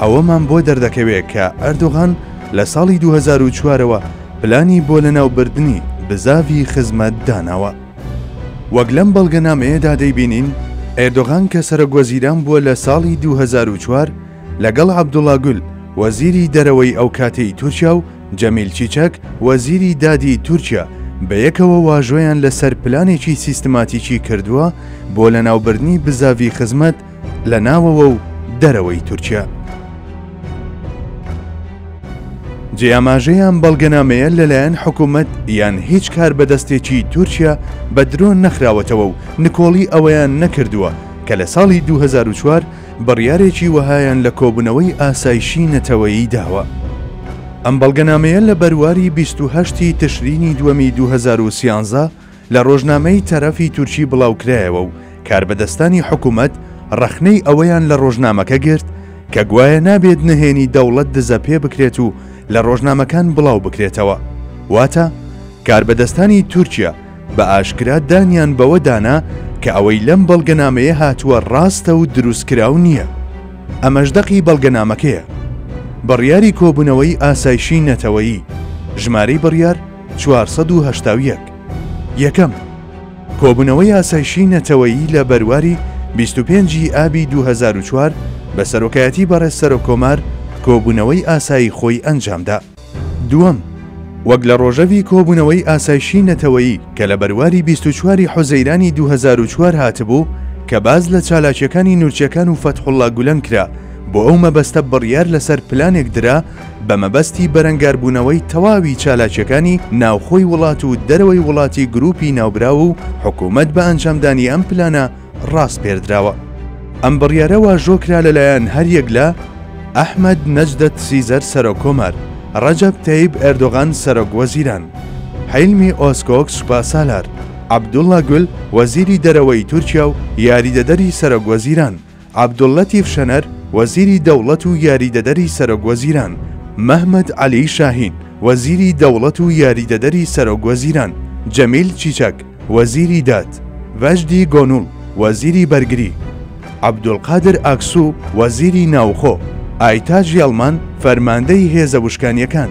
ئەوەمان بۆ دەردەکەوێ کە ئەردۆغان لە ساڵی دوو هەزار و چوار ەوە پلانی بۆ لەناوبردنی بزاڤی خزمەت داناوە. وەک لەم بەڵگەنامەیەدا دەیبینین، ئێردۆغان کە سەرۆکوەزیران بووە لە ساڵی دوو هەزار و چوار، لەگەڵ عەبدوڵا گول، وەزیری دەرەوەی ئەو کاتەی تورکیا و جەمیل چیچەک، وەزیری دادی تورکیا بەیەکەوە واژۆیان لەسەر پلانێکی سیستماتیکی کردووە بۆ لەناوبردنی بزاڤی خزمەت لە ناوەوە و دەرەوەی تورکیا. جێ ئاماژەیە ئەم بەڵگەنامەیە لەلایەن حکوومەت یان هیچ کاربەدەستێکی تورکیا بە درۆ نەخراوەتەوە و نکۆڵی ئەوەیان نەکردووە کە لە ساڵی 2004 بڕیارێکی وەهایان لە کۆبوونەوەی ئاسایشی نەتەوەیی داوە. ئەم بەڵگەنامەیە لە بەرواری 28 ی تشرینی دووەمی 2013 لە ڕۆژنامەی تەرەفی تورکی بڵاوکرایەوە و کاربەدەستانی حکومەت ڕەخنەی ئەوەیان لە ڕۆژنامەکە گرت کە گوایە نابێت نهێنی دەوڵەت دزە پێ بکرێت و لە ڕۆژنامەکان بڵاو بکرێتەوە واتە کاربەدەستانی تورکیا بە ئاشکرا دانیان بەوە دانا کە ئەوەی لەم بەڵگەنامەیە هاتووە ڕاستە و دروستکراو نییە ئەمەش دەقی بەڵگەنامەکەیە بڕیاری کۆبوونەوەی ئاسایشی نەتەوەیی ژمارەی بڕیار چوار سەد و هەشتا و یەک. یەکەم، کۆبوونەوەی ئاسایشی نەتەوەیی لە بەرواری بیست و پێنج ی ئابی دوو هەزار و چوار بە سەرۆکایەتی بەڕێز سەرۆککۆمار کۆبوونەوەی ئاسایی خۆی ئەنجامدا. دووەم، وەک لە ڕۆژەڤی کۆبوونەوەی ئاسایشی نەتەوەیی کە لە بەرواری بیست و چوار ی حوزەیرانی دوو هەزار و چوار هاتبوو کە باس لە چالاکییەکانی نورچەکان و فەتحوڵڵا گولەن کرا بۆ ئەو مەبەستە بڕیار لەسەر پلانێک درا بە مەبەستی بەرەنگاربوونەوەی تەواوی چالاکیەکانی ناوخۆی وڵات و دەرەوەی وڵاتی گروپی ناوبراو و حکومەت بە ئەنجامدانی ئەم پلانە ڕاسپێردراوە. ئەم بڕیارە واژۆ کرا لەلایەن هەریەک لە، ئەحمەد نەجدەت سیزەر سەرۆک کۆمار، ڕەجەب تەیب ئێردۆغان سەرۆک وەزیران، حیلمی ئۆزکۆک سوپاسالار، عەبدوڵا گول وەزیری دەرەوەی تورکیا و یاریدەدەری سەرۆک وەزیران، عەبدوللەتیف شەنەر، وەزیری دەوڵەت و یاریدەدەری سەرۆک وەزیران، مەهمەت عەلی شاهین، وەزیری دەوڵەت و یاریدەدەری سەرۆک وەزیران، جەمیل چیچەک، وەزیری داد، ڤەجدی گۆنوڵ، وەزیری بەرگری، عەبدولقادر ئاکسو، وەزیری ناوخۆ، ئایتاج یەڵمان، فەرماندەی هێزە وشکانییەکان.